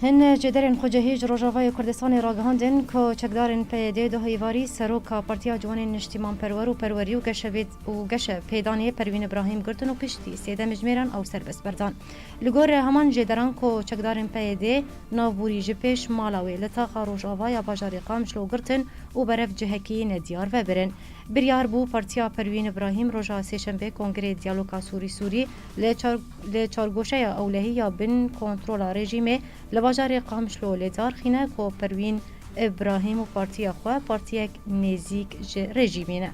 Hin cederên xwecihî ji Rojavayê Kurdistanê ragihandin ku çekdarên PYD'ê Duh Îvarî, seroka Partiya Ciwanên Niştîmanperwer û Perwerî û Geşe pêdanê Perwîn Îbrahîm girtin û piştî sê demê ji mêran ew serbest berdan. Li gor heman cêderan ku çekdarên PYD'ê navbûrî ji pêş mala wê li taxa Rojava ya bajarê Qamş lo girtin û berev cihekî nediyar vebirin. Biryar bû Partiya Perwîn Îbrahîm roja sêşembê Kongrê Diyaloka Sûrî-Sûrî Li çargoşeya ewlehî ya bin kontrola rejîmê li bajarê Qamişlo li Darxîne ku Perwîn Îbrahîm û partiya xwe partiyek nêzîk ji rejîmê ne.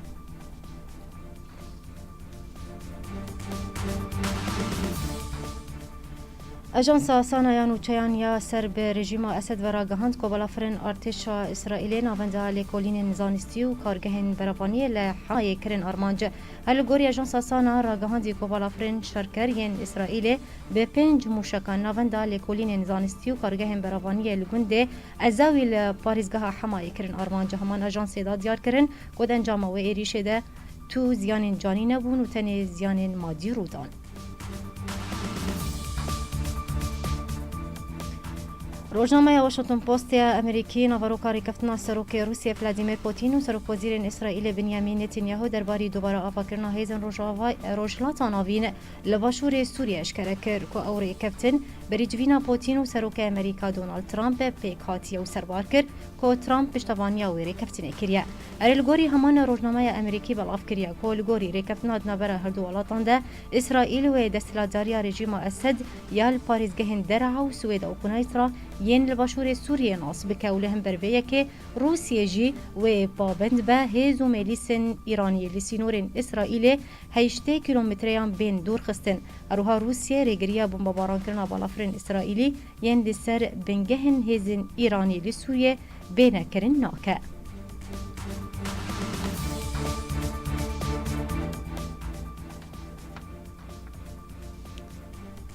Ajansa Sanayan û Çayan ya ser bi rejîma Esed ve ragihand ku balafirên artêşa Îsraîlê navenda lêkolînên zanistî û kargehên berevaniyê li Hamayê kirin armanc. Her li gorî ajansa Sana ragihandî ku balafirên şerker yên Îsraîlê bi pênc mûşekan navenda lêkolînên zanistî û kargehên beravaniyê li gundê Ezawî li parêzgeha Hemayê kirin armanc. Heman ajansê da diyar kirin ku di encama wê êrîşê de tu ziyanên canî nebûn û tenê ziyanên madî rû dan. Rojnameya Washington Post ya Amerîkî naveroka rêkeftina Serokê Rûsye Vladimir Putîn û Serokwezîrên Îsraîlê Binyamîn Netînyahu derbarî dubare avakirina hêzên Rojhilata Navîn li başûrê Sûriyê eşkere kir ku ew rêkeftin bi rîcivîna Putîn û Serokê Amerîka Donald Trump pêk hatiye û serbar kir ku Trump piştevaniya wê rêkeftinê kiriye. Erê li gorî heman rojnameya Emerîkî belav kiriye ku li gorî rêkeftina di navbera her du welatan de Îsraîl wê desthilatdariya rejîma Esed ya li parêzgehên Dereha û Swêda û Kunays ra yên li başûrê Sûriyê nas bike û li hember vê yekê Rûsiyê jî wê pabend be hêz û mêlîsên Îraniyê li sînorên Îsraîlê heştê kîlometreyan bên dûrxistin. Herwiha Rûsiyê rêgiriya bombabarankirina balafirên Îsraîlî yên li ser bingehên hêzên Îranî li Sûriyê bêne kirin nake.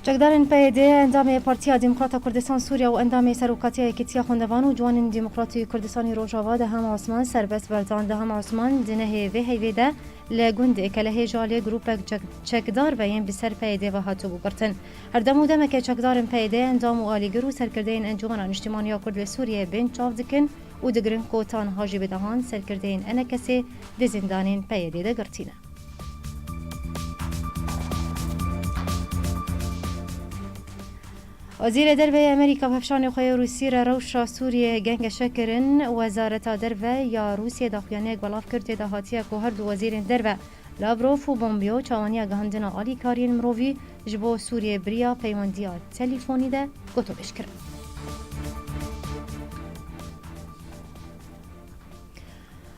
Çekdarên PYD, endamê Partiya Demokrata Kurdistan Sûriya û endamê Serokatiya Yekîtiya Xwendevan û Ciwanên Demokrat û Kurdistanê Rojava Deham Osman serbest berdan. Deham Osman di nehê vê heyvê de li gundê Kelehê ji aliyê grûpek çekdar ve yên bi ser PYD ve hatibû girtin. Her dem û demeke çekdarên PYD endam û alîgir û serkirdeyên Encûmena Niştîman ya Kurd li Sûriyeyê bên çav dikin û digirin ku tanha jî bi dehan serkirdeyên enekesê di zîndanên PYD'ê de girtî ne. Wezîrê Derve yê Amerîka bi hevşanê xwe yê Rûsî re rewşa Sûriyeyê gengeşe kirin. Wezareta Derve ya Rûsiyê daxuyaniyek belav kir tê de hatiye ku herdu wezîrên derve Lavrov û Pompeo çawaniya gihandina alîkariyên mirovî ji bo Sûriyeyê bi riya peywendiya telîfonî de gotûbêj kirin.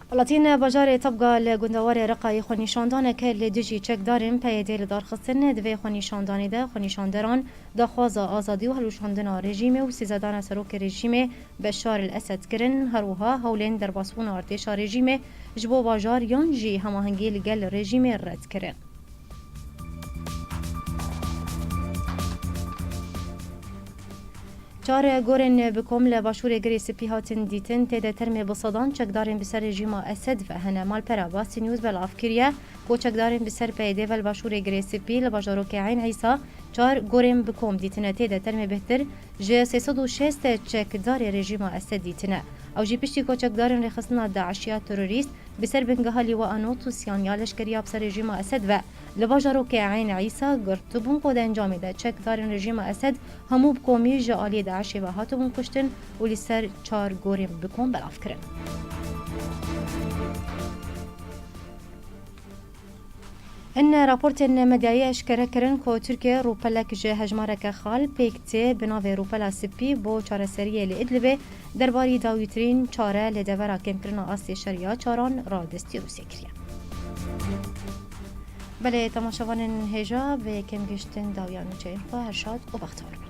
Welatîn bajarê Tabga li gundewarê Reqayê xwenîşandaneke li dijî çekdarên PYD'ê lidarxistin. Di vê xwenîşandanê de xwenîşanderan daxwaza azadî û hilweşandina rejîmê û sîzedana serokê rejîmê Beşar el-Esed kirin. Her wiha hewlên derbasbûna artêşa rejîmê ji bo bajar yan jî hemahengî li gel rejîmê red kirin. Çar gorên bi kom li başûrê Girê Spî hatin dîtin, tê de termê bi sedan çekdarên bi ser rejîma Esed ve hene. Malpera Basî News belav kiriye ku çekdarên bi ser PYD ve li başûrê Girê Spî li bajarokê Eyn Îsa çar gorên bi kom dîtine, tê de termê bêhtir Ji sê sed û şêst çekdarê rejîma Esedî tune. Ew jî piştî ku çekdarên rêxistina DAIŞ ya terorîst bi ser bingeha Lîwa Anût û Siyan ya leşkerî ya bi ser rejîma Esed ve li bajarokê Eyn Îsa girtibûn ku di encamê de çekdarên rejîma Esed hemû bi komî ji aliyê DAIŞê ve hatibûn kuştin û li ser çar gorên bi kom belavkirin. In raportên medyayê eşkere kirin ku Tirkiye rûpelek ji hejmareke xal pêk tê bi navê Rûpela Spî bo çareseriyê li Idlibê derbarî dawîtirîn çare li devera kêmkirina astê şer ya çaran re destî Rûsye kiriye. Belê temaşevanên hêja bi kêm gihiştin dawiya nûçeyên xwe her şad û bextewar bin.